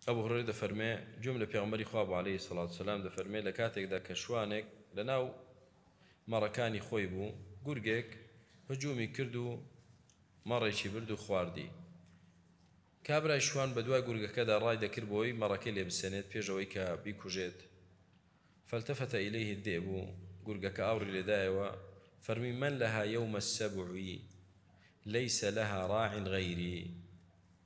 ئەبو هورەیرە دەفەرمێ، گوێم لە پێغەمبەری خوا بوو عەلەیهی سەڵات و سەلام دەفەرمێ، لە کاتێکدا کە شوانێک لە ناو مەڕەکانی خۆی بوو، گورگێک هجوومی کرد و مەڕێکی برد و خواردی. کابرای شوان بە دوای گورگەکەدا ڕای دەکرد بۆی مەڕەکەی لێ بسێنێت پێش ئەوەی کە بیکوژێت، فالتفت الیه الذئب، گورگەکە ئاوڕی لێ دایەوە، فەرمووی، من لها یوم السبع لیس لها راع غیری.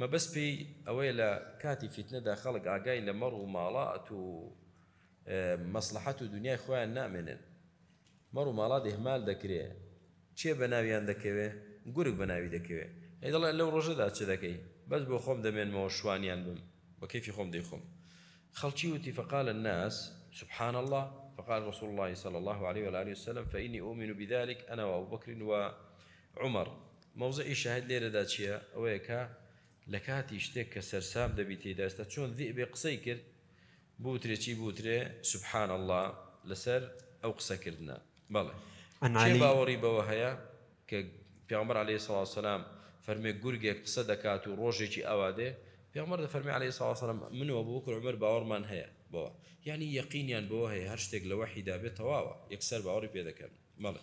مەبەست پێی ئەوەیە لە کاتی فیتنەدا خەڵک ئاگای لە مەڕ و ماڵات و مەسڵەحەت و دونیای خۆیان نامێنێت، مەڕ و ماڵات ئیهمال دەکرێت، کێ بە ناویان دەکەوێت؟ گورگ بە ناوی دەکەوێت، ئەی دەڵێت لەو ڕۆژەدا چ دەکەی؟ بەس بۆ خۆم دەمێنمەوە شوانیان بم، بە کەیفی خۆم دەیخۆم. خەڵکی وتی، فقال الناس، سبحان اللە، فقال رسول اللە صلی اللە علیە و آله و سلم، فإنی أؤمن بذلک، أنا وأبوبکر وعمر. مەوزعی شاهید لێرەدا چییە؟ ئەوەیە کە لە کاتی شتێک کە سەرسام دەبی تێیدا ئێستا چۆن ذئبێ قسەی کرد بوترێ چی بوترێ سبحان اللە لەسەر ئەو قسە کردنە بەڵێ عن کێ علی. باوەڕی بەوە هەیە کە پێغەمبەر علیە سڵاو وسلام فەرمێ گورگێک قسە دەکات و ڕۆژێکی ئاوا دێ پێغەمبەر دەفەرمێ علیە سڵاو وسلام من و ابوبکر و عمر باوەڕمان هەیە بەوە یەعنی یەقینیان بەوە هەیە هەر شتێک لە وەحیدا بێت تەواوە یەکسەر باوەڕی پێ دەکەن بەڵێ.